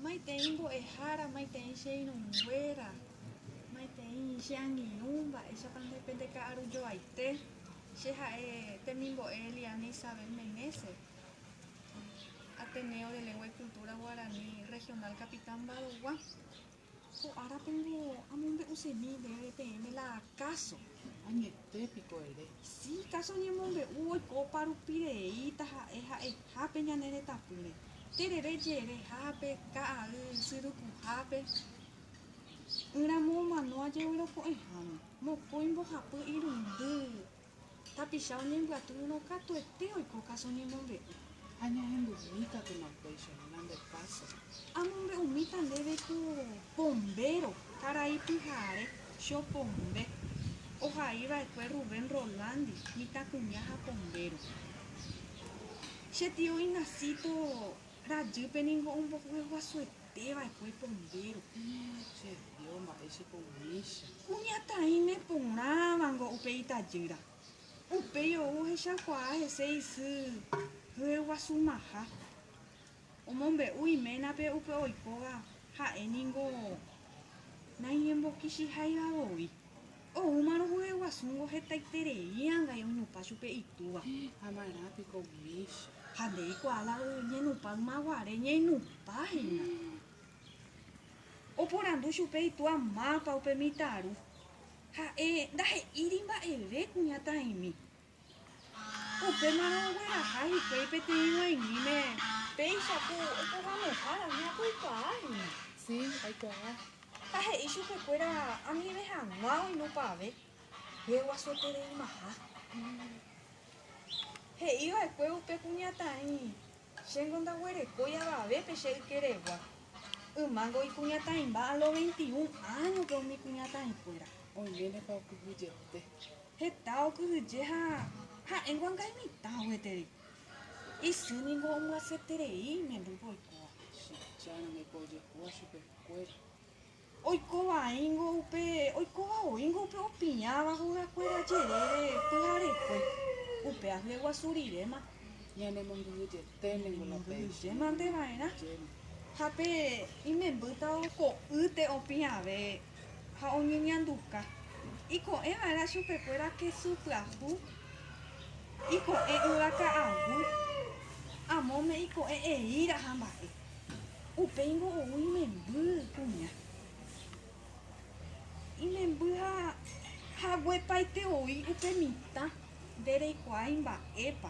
Maitei mbo'ehára, maitei che irũnguéra, maitei che angirũ, mba'éichapa nde pe ndeka'arujoaite. Che ha'e temimbo'e Eliana Isabel Meneses, Ateneo de Lengua y Cultura Guaraní Regional Capitán Mba'dogua. Ko árapengo amombe'u chemi ndéve peẽme la káso. Añete piko ere. Sí, káso ñemombe'u oikópa rupi rei taha'e ha'ehápe ñane retãpýre. Terere jerehápe, ka'ay syrykuhápe, ỹramo omano ajevyroko'ẽháme, mokõi mbohapy irundy, Tapicha oñembyatyirõ katuete oiko káso ñemombe'u. Ha ñahendumi katuma upéicha ñande káso. Amombe'umíta ndéve ko pombéro, karai pyhare, chopombe. Ohai va'ekue Rubén Rolandi, mitãkuña ha pombéro. Che tio Ignacito rajýpe ningo ombohyeguasuete. Pe va'ekue pombéro, che Dios, mba'e che poumícha. Kuñataĩ ne porãvango upe itajýra. Upéi ou ohechakuaa hese isy hyeguasumaha. Omombe'u iménape upe oikóva ha'e ningo naiñembokichiháiva voi. Oúma rohayhuasúngo hetaiterei ãngai oinupã chupe itúva. Amarã piko umícha. Ha nde eikuaa la oñenupã ymaguare ñainupã hína. Oporandu chupe itúa mápa upe mitãru. Ha'e ndahe'íri mba'eve kuñataĩmi. Upémarõ ogueraha hikuái peteĩ g̃uaig̃uime. Péicha ku oporãnohára hína ko ikuaa hína. Sí, aikuaa. Ha he'i chupe kuéra amive hag̃ua oinupãve. Reguasuetereimaha. He'i vaekue upe kuñataĩ, Chéngo ndaguerekói avavépe che ykeregua. Ymángo ikuñataĩmba a los veintiún áñope umi kuñataĩ kuéra. Oiméne pa okyhyjete. Heta okyhyje ha ha'éngo anga imitã gueteri. Isy ningo omyasyeterei imembýpe oikóva. Chicha rangeko ojehúva chupe kuéra. Oiko vaíngo upe, oikóva oíngo upe opiãva hóga kuéra jerére pyharekue. Upe ahyre guasu riréma. Ñane mongyhyjete ningo la péicha. Mongyhyje mante vaerã. Ha pe imembýta ko'ýte opiãve. ha oñeñanduka. Iko'ẽ va'erã chupekuéra kesu pyahu, iko'ẽ yva ka'agu, amóme iko'ẽ eíra ha mba'e. Upéingo ou imemby kuña. Imemby ha haguepaite oĩ upe mitã nde reikuaái mba'épa.